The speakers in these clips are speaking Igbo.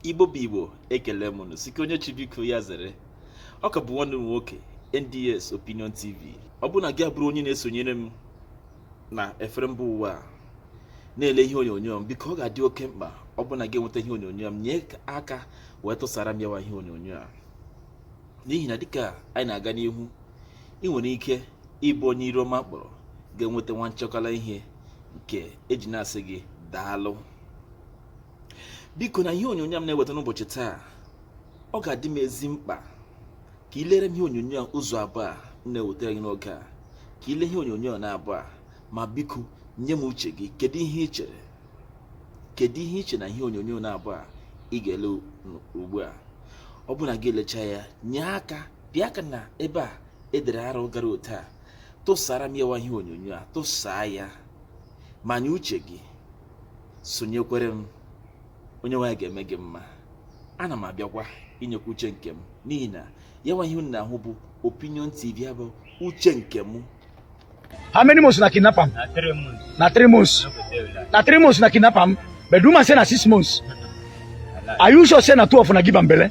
igbo bụ igbo ekele m unu sị ka onye chi biko ya zere ọ ka bụ nwanne m nwoke nds opinion tv ọ bụrụ na gị abụrụ onye na-esonyere m na efere mba ụwa a na-ele ihe onyonyo m biko ọ ga-adị oke mkpa ọ bụ na gị enweta ihe onyonyo m nye aka wee tụsara m yawa ihe onyonyo a n'ihi na dịka anyị na-aga n'ihu ị nwere ike ịbụ onye iru ọma kpọrọ ga-enweta nwa nchọkala ihe nke e ji na-asị gị daalụ biko na ihe onyonyo a m na-eweta n'ụbọchị taa ọ ga-adị m ezi mkpa ka ị lere m ihe onyonyo a ụzọ abụọ a m na-ewetara gị n'oge a ka ị lee ihe onyonyo a naabọ a ma biko nye m uche gị kedu ihe ị chere kedu ihe ị che na ihe onyonyo naabọ a ị ga-ele ugbu a ọ bụ na gị elechaa ya nye aka pịa aka na ebe a e dere arrow gara otu a tụsara m yawa ihe onyonyo a tụsaa ya ma nye uche gị sonyekwere m Onyenweanyị ga-eme gị mma ana m abịakwa inyekwa uche nke m n'ihi na ya nwa ihe unu na-ahụ bụ opinion tv ya bụ uche nke m How many months una kidnap am? Na three months. Na three months. Na three months una kidnap am. But woman say na six months. Are you sure say na two of una give am belle?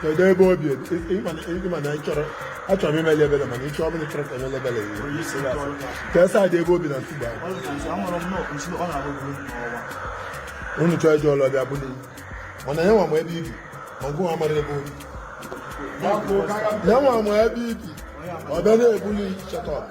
kedu ebe o bi ị ma na ị chọrọ achọrọ m imeli ebele mana ị chọ ọ bụlụ na ị chọrọ ka e mele ebele ka esa dị ebe o bi na ntụgbu unu chọọ ije ọlụ ọ bịa buli mana ya nwa ma ebe i bi ma gị nwa amarọ ebe o bi ya nwa ma ebe i bi ọ bịa na-ebuli chetọp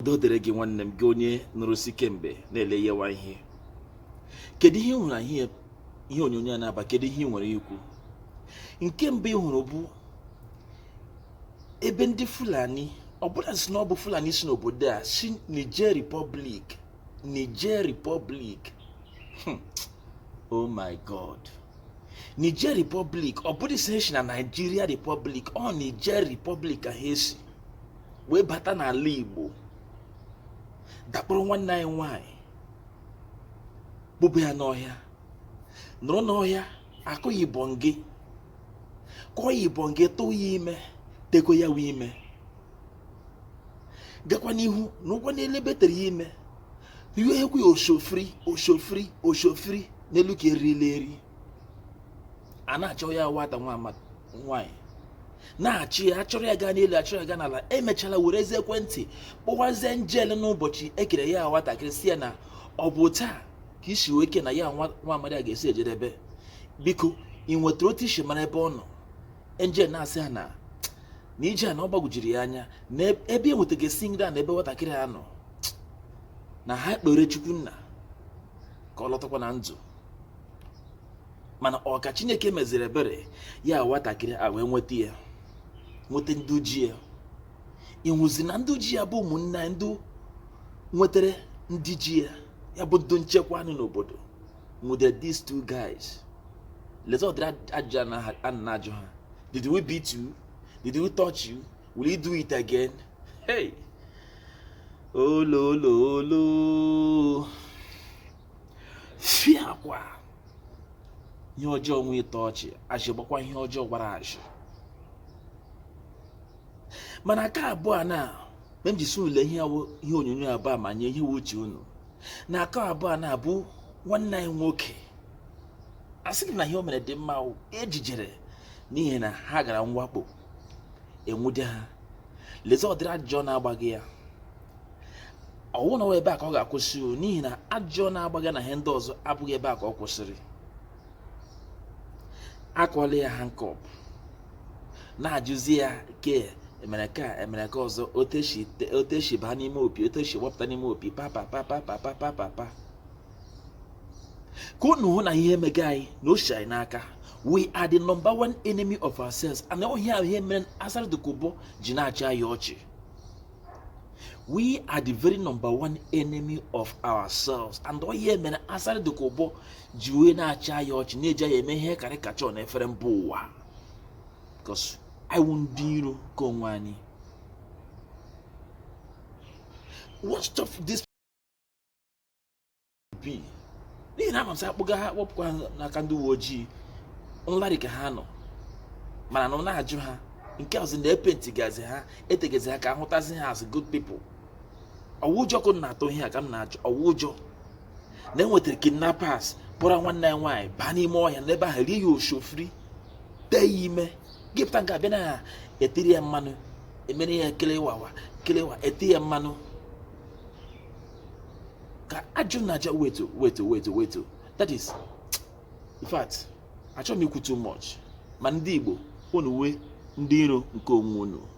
udo dịrị gị nwanne m gị onye nọrọ si kemgbe na-ele yawa ihe kedu ihe ị hụrụ n'ihe onyonyo a naabọ a kedu ihe ị nwere ikwu nke mbụ ị hụrụ bụ ebe ndị fulani ọ bụrọ sị na ọ bụ fulani si n'obodo a si niger republic niger republic hmm. oh my god Niger Republic ọ bụrọ sị e si na Nigeria Republic ọ Niger Republic ka ha si wee bata n'ala Igbo dakporo nwanne anyị nwanyị kpụba ya n'ọhịa nọrọ n'ọhịa akụ ya ibọngị kụọ ya ibọngị tụọ ya ime tego yawa ime gakwa n'ihu na ụgwọ n'elu ebe tere ya ime iwe ekwe osho free osho free osho free n'elu ka erila eri a na-achọ ya nwata nwaanyị na-achọ ya achọrọ ya gaa n'elu achọrọ ya gaa n'ala emechala werezie ekwentị kpọwazie njel n'ụbọchị ekere ya nwatakịrị si ya na ọ bụ taa ka isi wee ike na ya nwa amadi a ga-esi ejedebe biko ị nwetara otu i si mara ebe ọ nọ enjel na-asị ha na na ije a na ọ gbagwojiri ya anya na ebe e nwetaghị esi nri a na ebe nwatakịrị a nọ na ha kpere chukwu nna ka ọ lọtakwa na ndụ mana ọ ka chineke meziri ebere ya nwatakịrị a wee nweta ya nweta ndị ji ya ịhụzi na ndị ji ya bụ ụmụnna ndị nwetara ndị ji ya ya bụ ndị nchekwa nọ n'obodo nwude these two guys lezi ụdịrị ajụjụ a na-ajụ ha did we beat you did we touch you will you do it again hey olololo fiakwa ihe ọjọọ nwe ịtọ ọchị azị gbakwa ihe ọjọọ gbara azị mana nke abụọ na mgbe m ji sị unu lee ihe onyonyo abụọ ma nye ihe wụ uche unu na aka abụọ a na-abụ nwanne anyị nwoke asịghị na ihe o mere dị mma ejijere n'ihi na ha gara mwakpo e nwude ha lezi ụdịrị ajụjụ a na-agbaga ya ọ wụ na ebe a ka ọ ga-akwụsị n'ihi na ajụjụ a na-agbaga ya na ihe ndị ọzọ abụghị ebe a ka ọ kwụsịrị akọla ya handcuff na-ajụzi ya ke emere ka emere ka ọzọ oteshi te- oteshi baa n'ime opi oteshi wapụta n'ime opi papa papa papa papa papa ka unu hụ na ihe emega anyị na o si anyị n'aka we are the number one enemy of ourselves and ọ wụ ihe mere asari dokubo ji na-achị anyị ọchị we are the very number one enemy of ourselves and ọ wụ ihe mere asari dokubo ji wee na-achị anyị ọchị na-eji anyị eme ihe caricature na efere mba ụwa because anyị wụ ndị iro nke onwe anyị what of this be n'ihi na amasị akpụga ha kpọpụkwa n'aka ndị uwe ojii nlarị ka ha nọ mana unu na-ajụ ha nke ọzọ na e paintigazi ha etegezi ha ka a hụtazi ha as good people ọ wụ ụjọ ka unu na-atụ ihe a ka m na-ajụ ọ wụ ụjọ na e nwetara kidnappers kpọrọ nwanne ya nwaanyị baa n'ime ọhịa n'ebe ahụ rie ya osho free tee ya ime gị pụta nke abịa na ya etere ya mmanụ emere ya kelewawa kelewa ete ya mmanụ ka ajụ na aja wait o wait o wait o wait o that is in fact achọghị m ikwu too much ma ndị Igbo unu wụ ndị iro nke onwe unu